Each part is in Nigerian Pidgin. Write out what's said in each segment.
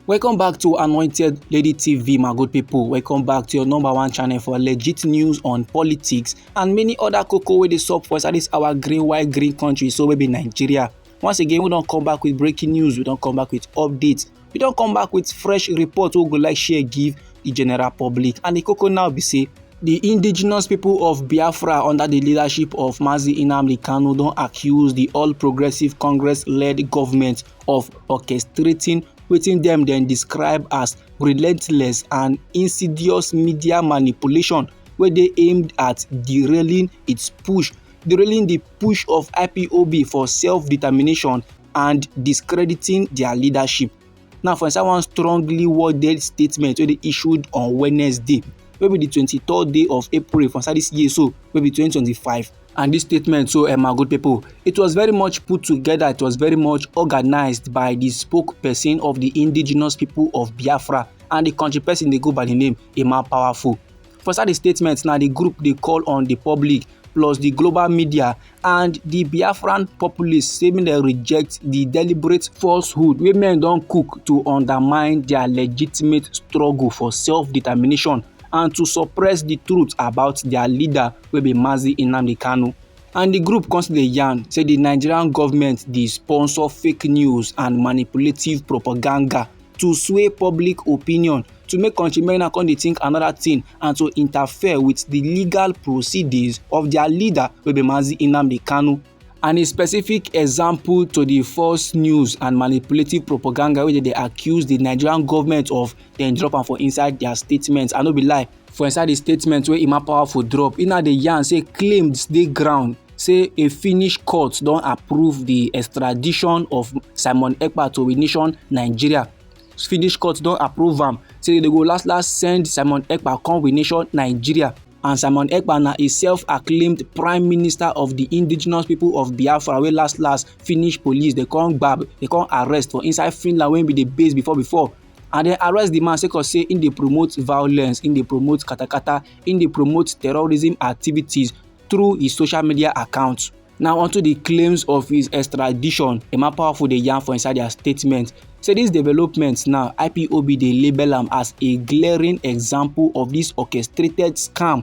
welcome back to anointed lady tv my good people welcome back to your number one channel for legit news on politics and many other cocoa wey dey sup for inside this our green white green country so wey be nigeria once again we don come back with breaking news we don come back with updates we don come back with fresh report wey we go like share give the general public and the cocoa now be say Di indigenous pipo of Biafra under di leadership of Mazi Nnamdi Kanu don accuse di All Progressives Congress-led government of orchestrating wetin dem dem describe as relentless and insidious media manipulation wey dey aimed at derailing its push derailing di push of IPOB for self-determination and discrediting dia leadership. Now, for inside one strongly worded statement wey dey issued on Wednesday, wey be the twenty-third day of April for inside this year so, wey be twenty twenty-five, and this statement so um, my good people it was very much put together it was very much organized by the spokesperson of the indigenous people of biafra and the country person dey go by the name emma powerful For inside di statement na di group dey call on di public plus di global media and di Biafran populace say make dem reject di deliberate falsehood wey men don cook to undermine dia legitimate struggle for self-determination and to suppress di truth about dia leader wey be Mazi Nnamdi Kanu. And di group come still dey yarn say di Nigerian government dey sponsor fake news and manipulative propaganda to sway public opinion to make country men now come dey think another thing and to interfere with the legal proceedings of their leader wey be Mazi Nnamdi Kanu and a specific example to the false news and manipulative propaganda wey dey accuse the nigerian government of dem drop am for inside their statements i no be lie For inside di statement wey Emma Powerful drop, e na dey yarn say claims dey ground say a Finnish court don approve di extradition of Simon Ekpa to a nation Nigeria. Finnish court don approve am say dem go last last send Simon Ekpa come a nation Nigeria. And Simon Ekpa na a self-acclaimed prime minister of di indigenous people of Biafra wey last last Finnish police dey come gbab, dey come arrest for inside Finland wey be di base before before. and dem arrest di man sake of say im dey promote violence im dey promote katakata im dey promote terrorism activities through his social media account now onto di claims of his extradition emma powerful dey yarn for inside dia statement say dis development now ipob dey label am as a glaring example of dis orchestrated scam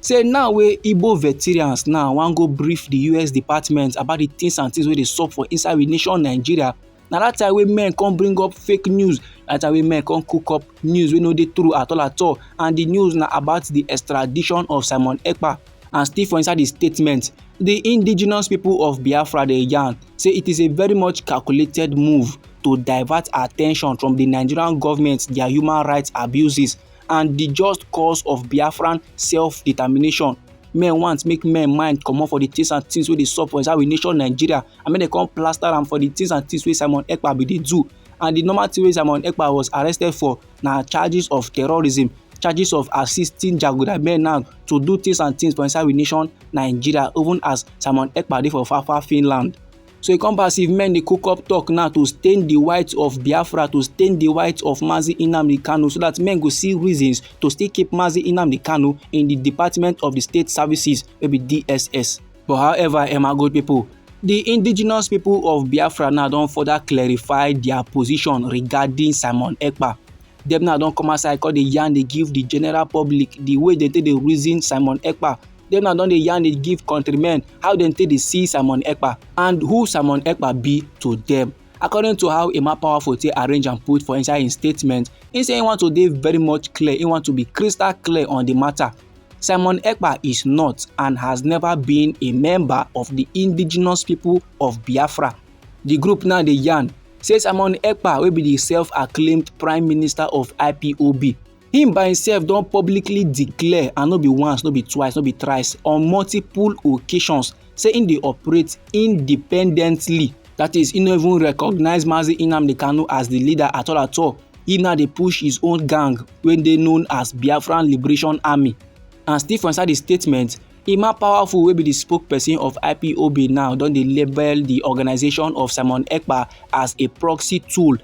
Say now wey Igbo veterans now wan go brief the US department about the things and things wey dey sup for inside we nation Nigeria, na that time wey men come bring up fake news, that time wey men come cook up news wey no dey true at all at all and the news na about the extradition of Simon Ekpa and still for inside the statement, the indigenous people of Biafra dey yarn say it is a very much calculated move to divert attention from the Nigerian government their human rights abuses and di just cause of Biafran self-determination. Men want make men mind comot for di things and things wey dey sup for inside we nation Nigeria and make dem come plaster am for di things and things wey Simon Ekpa bin dey do. And di normal thing wey Simon Ekpa was arrested for na charges of terrorism, charges of assisting jaguda men now to do things and things for inside we nation Nigeria even as Simon Ekpa dey for far far Finland. So e come pass if men dey cook up talk now to stain the white of Biafra, to stain the white of Mazi Inamdi Kanu, so that men go see reasons to still keep Mazi Inamdi Kanu in the Department of the State Services, maybe DSS. But however, Emma good people, the indigenous people of Biafra now don further clarify their position regarding Simon Ekpa. Dem now don come outside come dey yarn dey give the general public the way they take dey reason Simon Ekpa dem now don dey yarn dey give countrymen how dem take dey see simon ekpa and who simon ekpa be to dem according to how emma powerful take arrange and put for inside im statement im say im want to dey very much clear im want to be crystal clear on di matter simon ekpa is not and has never been a member of di indigenous people of biafra di group now dey yarn say simon ekpa wey be di self-acclaimed prime minister of ipob Him by himself don publicly declare and no be once, no be twice, no be thrice on multiple occasions say him dey operate independently. That is, he no even recognize Mazi Nnamdi Kanu as the leader at all at all. He now dey push his own gang wey dey known as Biafran Liberation Army. And still for inside the statement, Emma Powerful wey be the spokesperson of IPOB now don dey label the organization of Simon Ekpa as a proxy tool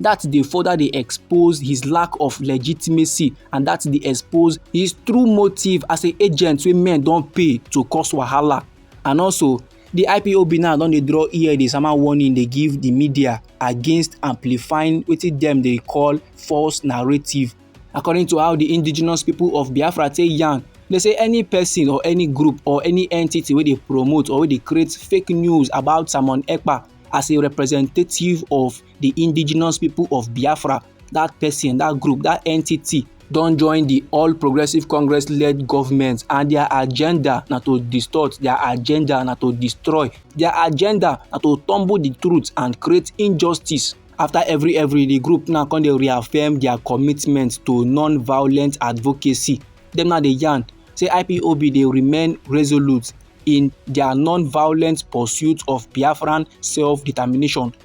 that dey further dey expose his lack of legitimacy and that dey expose his true motive as a agent wey men don pay to cause wahala and also the ipob now don dey draw ear dey sama warning dey give the media against amplifying wetin dem dey call false narrative according to how the indigenous people of biafra take yarn they say any person or any group or any entity wey dey promote or wey dey create fake news about simon ekpa as a representative of the indigenous people of biafra that person that group that entity don join the all progressive congress led government and their agenda na to distort their agenda na to destroy their agenda na to tumble the truth and create injustice after every every the group now come dey reaffirm their commitment to non-violent advocacy dem now dey yarn say ipob dey remain resolute in their non-violent pursuit of biafran self-determination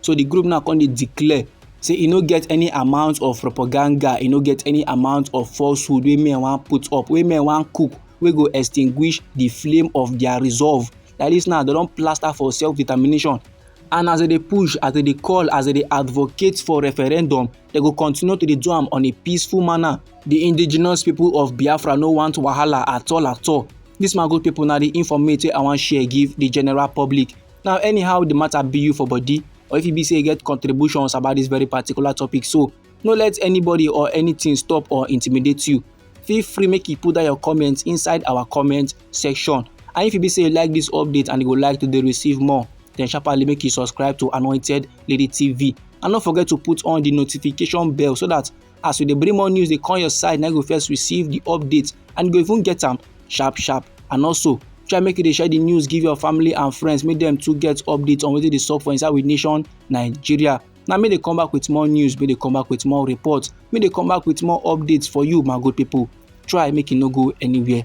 so the group now come dey declare say e no get any amount of propaganda e no get any amount of falsehood wey men wan put up wey men wan cook wey go extinguish the flame of their resolve like this now they don plaster for self determination and as they dey push as they dey call as they dey advocate for referendum they go continue to dey do am on a peaceful manner the indigenous people of biafra no want wahala at all at all this mago people na the informate wey i wan share give the general public Now, anyhow the matter be you for body, or if you be say you get contributions about this very particular topic, so no let anybody or anything stop or intimidate you. Feel free make you put down your comments inside our comment section. And if you be say you like this update and you would like to receive more, then sharply make you subscribe to Anointed Lady TV. And don't forget to put on the notification bell so that as we dey bring more news dey come your side na you go first receive the update and you go even get am sharp sharp and also try make you dey share the news give your family and friends make dem too get update on wetin dey sup for inside we nation nigeria na me dey come back with more news me dey come back with more report me dey come back with more updates for you my good people try make you no go anywhere